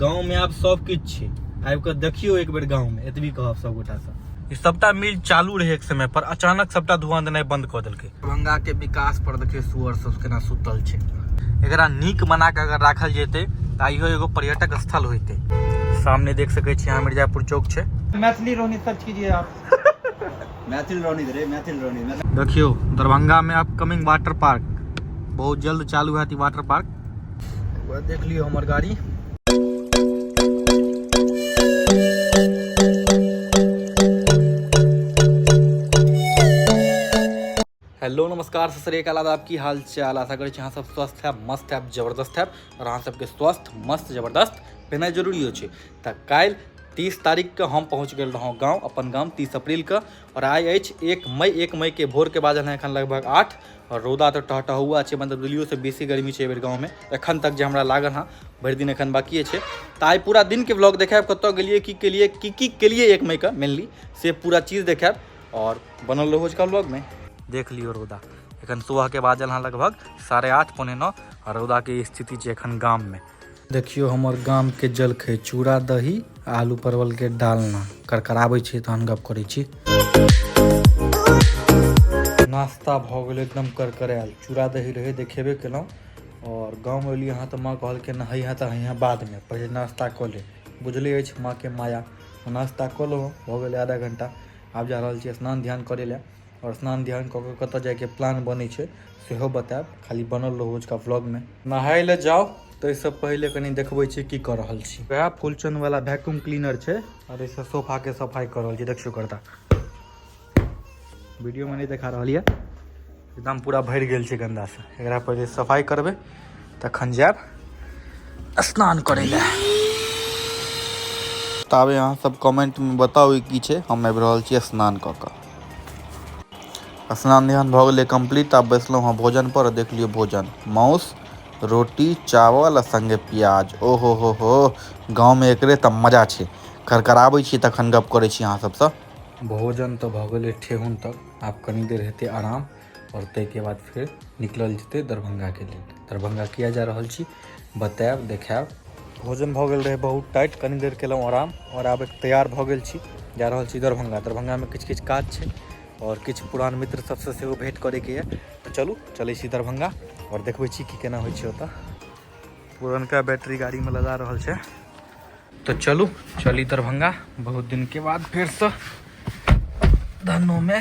गाँवमे आब सब किछु छै आबि कऽ देखियौ एक बेर गाँवमे एतबी कहब सब गोटासँ ई सबटा मिल चालू रहै एक समय पर अचानक सबटा धुआं देनाइ बंद कऽ देलकै दरभंगा के विकास पर देखियौ सुअर सब केना सुतल छै एकरा नीक बना कऽ अगर राखल जेतै तऽ आइयो एगो पर्यटक स्थल होइतै सामने देख सकै छी अहाँ मिर्जापुर चौक छै मैथिली रोहनी सर्च कीजिए आप मैथिल रोनी रे मैथिल रोनी देखियो दरभंगा में आप कमिंग वाटर पार्क बहुत जल्द चालू है वाटर पार्क देख लियो हमार गाड़ी हेलो नमस्कार सत श्रीकाल आदाब की हाल चाल आशा करै छी अहाँ सब स्वस्थ हैब मस्त हैब जबरदस्त हैब आओर अहाँ सबके स्वस्थ मस्त जबरदस्त भेनाइ जरूरियो छै तऽ काल्हि तीस तारीखके हम पहुँच गेल रहौँ गाँव अपन गाम तीस अप्रैलके आओर आइ अछि एक मई एक मईके भोरके बाजल हँ एखन लगभग आठ आओर रौदा तऽ टहटहुआ छै मतलब दिल्लियोसँ बेसी गर्मी छै एहि बेर गाँवमे एखन तक जे हमरा लागल हँ भरि दिन एखन बाकिए छै तऽ आइ पूरा दिनके ब्लॉग देखायब कतऽ गेलियै की केलियै की की केलियै एक मईके मेनली से पूरा चीज देखायब और बनल रहो आजकल ब्लॉग में देख लियो रौदा एखन सुबह के बाजल हाँ लगभग साढ़े आठ पौने नौ और रौदा के स्थिति है एखन गाम में देखियो हमारे गाम के जलखै चूड़ा दही आलू परवल के डालना करकराबे छी तहन गप करे छी नाश्ता भ गए एकदम करकरायल चूड़ा दही रहे देखेबे केलहुँ और गाँव अलियै अहाँ तऽ माँ कहलकै नहैया तऽ हइया बादमे पहिले नाश्ता कऽ ले बुझले अछि माँ के माया नाश्ता कऽ लेलहुँ भऽ गेलै आधा घण्टा आब जा रहल छी स्नान ध्यान करै लए आओर स्नान ध्यान कऽ कऽ कतऽ जाइके प्लान बनै छै सेहो बतायब खाली बनल रहू ओजका व्लॉगमे नहाय लए जाउ ताहिसँ पहिले कनि देखबै छी की कऽ रहल छी वएह फुलचनवला वैक्यूम क्लीनर छै आओर एहिसँ सोफाके सफाइ कऽ रहल छी देखियौ करता वीडियो में नहीं देखा रहा है एकदम पूरा भर गल से गंदा से एक पहले सफाई करबे तखन जाब स्नान कर तब यहाँ सब कमेंट में बताओ कि छे हम आबि रहल छी स्नान क के स्नान ध्यान भ गए कम्प्लीट आब बैसलहुँ हँ भोजन पर देख लियो भोजन माउस रोटी चावल संगे प्याज ओहो हो हो गाँव में एक तो मजा छे खरखराबै छी तखन गप करै छी अहाँ सबसँ भोजन तऽ भऽ गेलै ठेहुन तक आब कनी देर हेतै आराम आओर ताहिके बाद फेर निकलल जेतै दरभंगाके लेल दरभंगा किया जा रहल छी बतायब देखायब भोजन भऽ गेल रहै बहुत टाइट कनी देर केलहुँ आराम आओर आब तैयार भऽ गेल छी जा रहल छी दरभंगा दरभंगामे किछु किछु काज छै आओर किछु पुरान मित्र सभसँ सेहो भेँट करैके यए तऽ चलू चलै छी दरभंगा आओर देखबै छी कि केना होइ छै ओतय पुरनका बैटरी गाड़ी में लगा रहल छै तो चलू चली दरभंगा बहुत दिन के बाद फिर से धनो में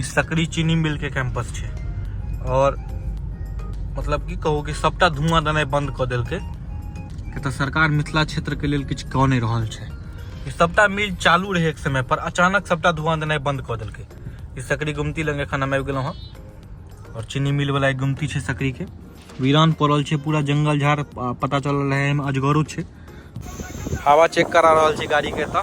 ई सकरी चीनी मिल के कैंपस छै और मतलब की कहू कि सबटा धुआं देनाइ बंद कऽ देलकै कि तऽ सरकार मिथिला क्षेत्र के लेल किछु कऽ नहि रहल छै ई सबटा मिल चालू रहै एक समय पर अचानक सबटा धुआं देनाइ बंद कऽ देलकै ई सकरी गुमती लग एखन हम आबि गेलहुँ हँ और चीनी मिल वाला एक गुमती छै सकरी के वीरान पड़ल छै पूरा जंगल झाड़ आ, पता चलल रहै एहिमे अजगरो छै हवा चेक करा रहल छी गाड़ी के तऽ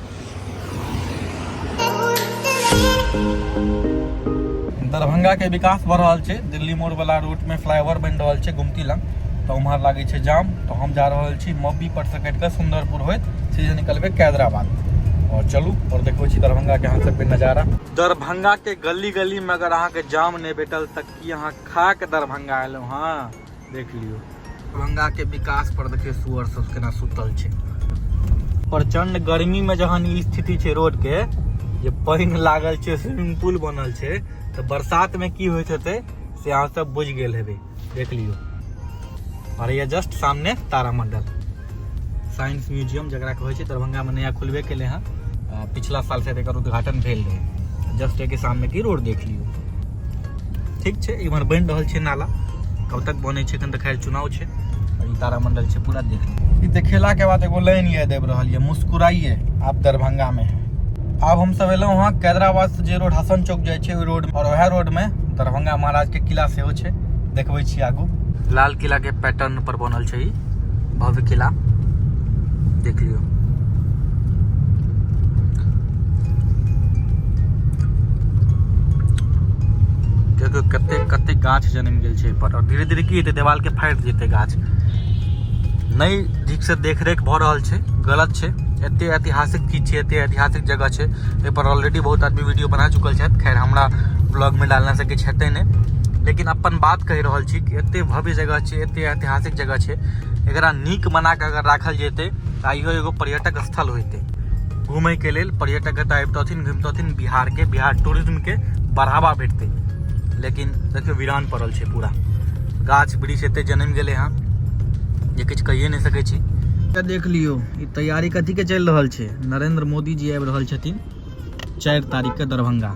दरभंगा के विकास बढ़ रहल छै दिल्ली मोड़ वाला रूट में फ्लाईओवर बनि रहल छै गुमती लग तऽ उम्हर लागै छै जाम तऽ हम जा रहल छी मब्बी पर से कटि कऽ सुंदरपुर होइत सीधे निकलबै कैदराबाद और चलू और देखबै छी दरभंगा के अहाँ सबके नजारा दरभंगा के गली गली में अगर अहाँ के जाम नहि भेटल तऽ की अहाँ खा के दरभंगा एलहुँ हँ देख लियो दरभंगा के विकास पर देखियो सुअर सब केना सुतल छै प्रचंड गर्मी में जहन ई स्थिति छै रोड के जे पानि लागल छै स्विमिंग पूल बनल छै तऽ बरसात में की होइत हेतै से अहाँ सब बुझि गेल हेबै देख लियो और ये जस्ट सामने तारामंडल साइंस म्यूजियम जकरा कहै छै दरभंगामे नया खुलबे केलै हँ पिछला साल से एकर उद्घाटन भेल रहै जस्ट एके सामने की रोड देख लियौ ठीक छै इम्हर बनि रहल छै नाला कब तक बनै छै एखन तऽ खैर चुनाव छै और ई तारामंडल छै पूरा देख लियौ ई देखेलाके बाद एगो लाइन याद आबि रहल यऽ मुस्कुराइए आप दरभंगामे है आब हमसब एलहुँ हँ कैदराबाद से जे रोड हसन चौक जाइ छै ओहि रोड और वएह रोडमे दरभंगा महाराजके किला सेहो छै देखबै छी आगू लाल किलाके पैटर्न पर बनल छै ई भव्य किला देख लियो देखियौ कते कते गाछ जन्म गेल छै पर धीरे धीरे की हेतै देवालके फाटि जेतै गाछ नहि ठीकसँ देखरेख भऽ रहल छै गलत छै एते ऐतिहासिक चीज छै एते ऐतिहासिक जगह छै एहिपर ऑलरेडी बहुत आदमी वीडियो बना चुकल छथि खैर हमरा ब्लॉगमे डालना से किछु हेतै नहि लेकिन अपन बात कहि रहल छी कि एते भव्य जगह छै एते ऐतिहासिक जगह छै एकरा नीक बना कऽ अगर राखल जेतै तऽ आइयो एगो पर्यटक स्थल होइतै घूमयके लेल पर्यटक एतऽ अबितथिन घुमितथिन बिहारके बिहार टूरिज्मके बढ़ावा भेटतै लेकिन देखियौ वीरान पड़ल छै पूरा गाछ वृक्ष एते जन्म गेलै हँ जे किछु कहिए नहि सकै छी तऽ देख लियौ ई तैयारी कथीके चलि रहल छै नरेंद्र मोदी जी आबि रहल छथिन चारि तारीखके दरभंगा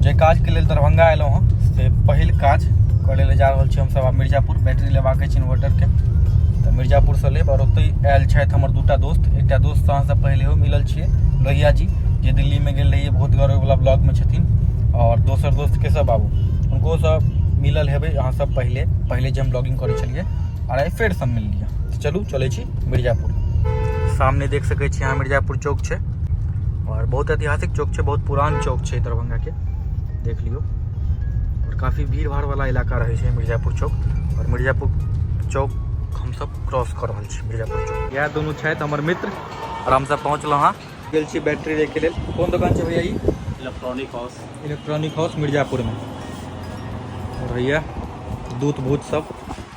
जे काजके लेल दरभंगा एलहुँ हँ से पहिल काज करै लए जा रहल छी हमसभ आब मिर्जापुर बैटरी लेबाक अछि इन्वर्टरके तऽ मिर्जापुरसँ लेब आओर ओतहि आयल छथि हमर दूटा दोस्त एकटा दोस्त अहाँसँ पहिलेहो मिलल छियै लोहिया जी जे दिल्लीमे गेल रहियै बहुत गौरववला ब्लॉगमे छथिन आओर दोसर दोस्त केशव बाबू हुनकोसँ मिलल हेबै अहाँसभ पहिले पहिले जे हम ब्लॉगिंग करै छलियै आओर आइ फेरसँ मिललियै चलू चलै छी मिर्जापुर सामने देख सकै छी अहाँ मिर्जापुर चौक छै और बहुत ऐतिहासिक चौक छै बहुत पुरान चौक छै दरभंगा के देख लियो और काफ़ी भीड़ भाड़ वाला इलाका रहे छै मिर्जापुर चौक और मिर्जापुर चौक हम सब क्रॉस कर रहा छी मिर्जापुर चौक यह दोनों छथि हमर मित्र और हम सब पहुँचलहुँ हाँ गेल छी बैटरी लेके लेल कोन दुकान छै भैया electronic house electronic house Mirzapur में भैया दूत भूत सब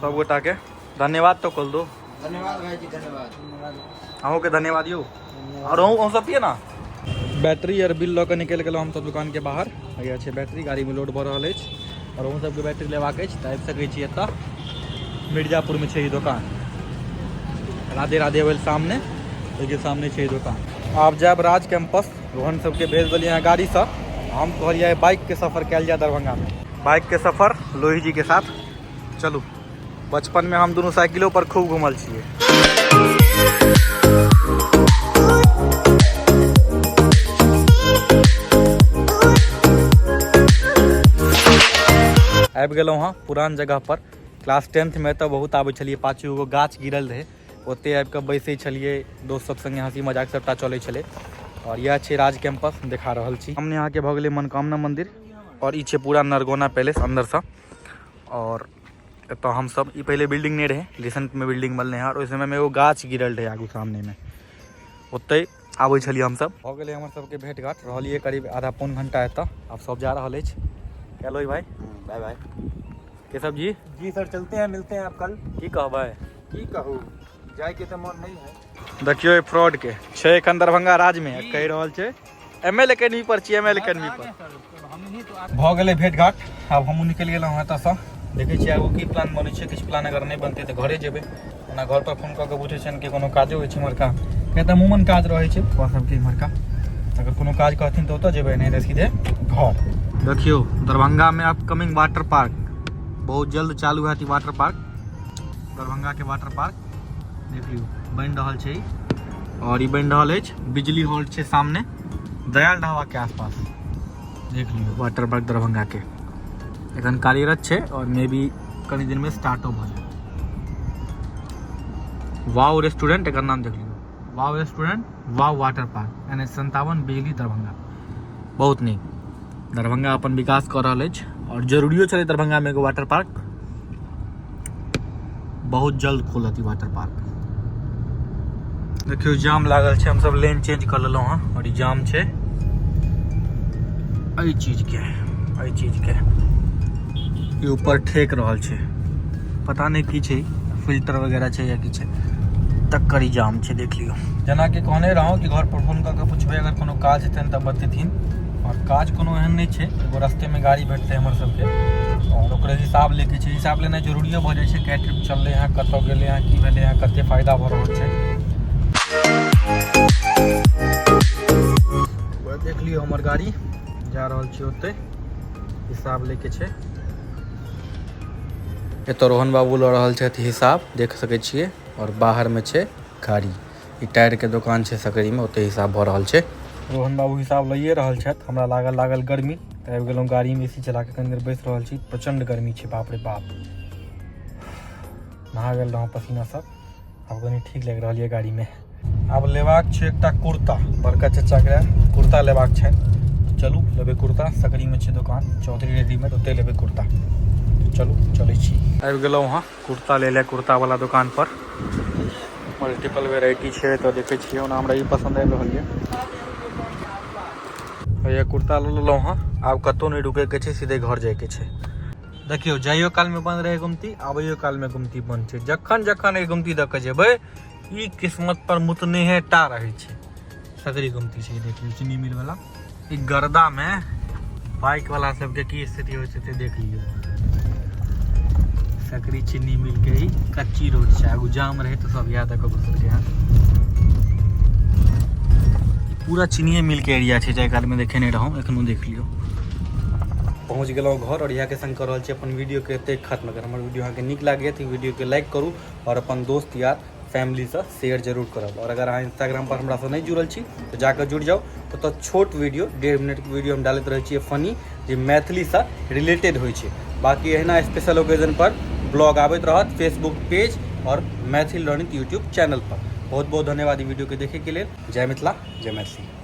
सब गोटा के धन्यवाद तो कल दो धन्यवाद भाई जी धन्यवाद अहूँ के धन्यवाद यौ और अहूँ सब पिए ना बैटरी आर बिल लऽ कऽ निकलि गेलहुँ हमसभ दोकानके बाहर हैया छै बैटरी गाड़ीमे लोड भऽ रहल अछि आओर अहूँ सभके बैटरी लेबाक अछि तऽ आबि सकै छी एतऽ मिर्जापुरमे छै ई दोकान राधे राधे वेल सामने ओहिके सामने छै ई दोकान आब जायब राज कैंपस रोहन सबके भेज देलियै हँ गाड़ीसँ हम कहलियै बाइकके सफर कयल जाय दरभंगामे बाइकके सफर लोहीजीके साथ चलू बचपन में हम दोनों साइकिलों पर खूब घूमल छे आबि गेलहुँ हँ पुरान जगह पर क्लास टेंथ में तो बहुत आबे छलिए पाछू एगो गाछ गिरल रहे ओते आबि कऽ बैसै छलिए दोस्त सब संगे हँसी मजाक सबटा चले छे और यह छे राज कैंपस देखा रहा छी हमने यहाँ के भऽ मनकामना मंदिर और ई पूरा नरगोना पैलेस अंदर से और एतऽ हम सब ई पहले बिल्डिंग नहीं रहे रिसेंट में बिल्डिंग बनले हैं और उस समय में एगो गाछ गिरल रहे आगू सामने में ओते आबै छलिए हम सब हो गेले हमर सब के भेट घाट रहलिए करीब आधा पौन घंटा एतऽ अब सब जा रहल अछि हेलो भाई बाय बाय के सब जी जी सर चलते हैं मिलते हैं आप कल की कहबै की कहू जाय के त मन नहीं है देखियो फ्रॉड के छै एखन दरभंगा राज में कह रहल छै एम एल एकेडमी पर छी एम एल एकेडमी पर भऽ गेलै भेट घाट आब हमहूँ निकलि गेलहुँ हँ एतऽसँ देखै छियै आगू की प्लान बनै छै किछु प्लान अगर नहि बनतै तऽ घरे जेबै ओना घर पर फोन कऽ कऽ बुझै छियनि कि कोनो काजो होइ छै इम्हरका किया तऽ अमूमन काज रहै छै पप्पा सबके इम्हरका अगर कोनो काज कहथिन तऽ ओतऽ जेबै नहि तऽ सीधे घर देखियौ दरभंगामे आब कमिंग वाटर पार्क बहुत जल्द चालू हैत ई वाटर पार्क दरभंगाके वाटर पार्क देखियो बन रहल छै और ई बन रहल अछि बिजली हॉल छै सामने दयाल ढाबा के आसपास देख लियो वाटर पार्क दरभंगा के एखन कार्यरत छै और मे बी कनि दिन में स्टार्टो भ जाए वाओ रेस्टोरेंट एकर नाम देख लियो wow restaurant wow water park N H संतावन बिजली दरभंगा बहुत नीक दरभंगा अपन विकास कऽ रहल अछि आओर जरूरियो छलै दरभंगामे एगो वाटर पार्क बहुत जल्द खुलत ई वाटर पार्क देखियौ जाम लागल छै हमसभ लेन चेंज कऽ लेलहुँ हँ आओर ई जाम छै एहि चीजके एहि चीजके ई ऊपर ठेक रहल छै पता नहि की छै फिल्टर वगैरह छै या की छै तकर ई जाम छै देख लियौ जेनाकि कहने रहौं कि घर पर फोन कऽ के पुछबै अगर कोनो काज हेतनि तऽ बतेथिन आओर काज कोनो एहन नहि छै एगो रस्तेमे गाड़ी भेटतै हमर सबके आओर ओकरे हिसाब लेके छै हिसाब लेनाइ जरूरियो भऽ जाइ छै कए ट्रिप चललै हँ कतऽ गेलै हँ की भेलै हँ कते फायदा भऽ रहल छै देख लियौ हमर गाड़ी जा रहल छी ओतै हिसाब लेके छै एतऽ रोहन बाबू लऽ रहल छथि हिसाब देख सकै छियै आओर बाहरमे छै गाड़ी ई टायरके दोकान छै सकरीमे ओतऽ हिसाब भऽ रहल छै रोहन बाबू हिसाब लइए रहल छथि हमरा लागल लागल गर्मी तऽ आबि गेलहुँ गाड़ीमे ए सी चला कऽ कनी देर बैस रहल छी प्रचण्ड गर्मी छै बाप रे बाप नहा गेल रहौं पसीना सब आब कनि ठीक लागि रहल यऽ गाड़ीमे आब लेबाक छै एकटा कुर्ता बड़का चचाके कुर्ता लेबाक छै चलू लेबै कुर्ता सकरीमे छै दोकान चौधरी रेडीमेड ओतहि लेबै कुर्ता चलू चलै छी आबि गेलहुँ हँ कुर्ता लै लए कुर्तावला दोकानपर मल्टीपल वेराइटी छै तऽ देखै छियै ओना हमरा ई पसन्द आबि रहल यऽ भैया कुर्ता लऽ लेलहुँ हँ आब कतहु नहि रुकैके छै सीधे घर जाइके छै देखियौ जाइयो कालमे बन्द रहै गुमती आबैयो कालमे गुमती बन्द छै जखन जखन एहि गुमती दऽ कऽ जेबै ई किस्मत पर मुतनेहे टा रहै छै सगरी गुमती छै देख लियौ चीनी मिल वाला ई गर्दा मे बाइक वाला सबके की स्थिति होइ छै से देख लियौ सकरी चीनी मिल के ही कच्ची रोड छै आगू जाम रहै तऽ सब इएह दऽ कऽ घुसलकै हँ पूरा चीनिये मिल के एरिया छै जाहि कालमे देखेने रहौं एखनो देख लियौ पहुँच गलो घर और यहाँ के संग कर रहा है अपन वीडियो के एते खत्म अगर हमारे वीडियो अहाँ के निक लगे तो वीडियो के लाइक करूँ और अपन दोस्त यार फैमिली से शेयर जरूर करब और अगर अहाँ इंस्टाग्राम पर हमरा से नहीं जुड़ल छी तो जाकर जुड़ जाओ तो, तो छोट वीडियो डेढ़ मिनट के वीडियो हम डालते रहे छे फनी जो मैथिली से रिलेटेड हो बाकी एहना स्पेशल ओकेजन पर ब्लॉग आबत रहत फेसबुक पेज और मैथिल लर्निंग यूट्यूब चैनल पर बहुत बहुत धन्यवाद वीडियो के देखे के लिए जय मिथिला जय मैथिली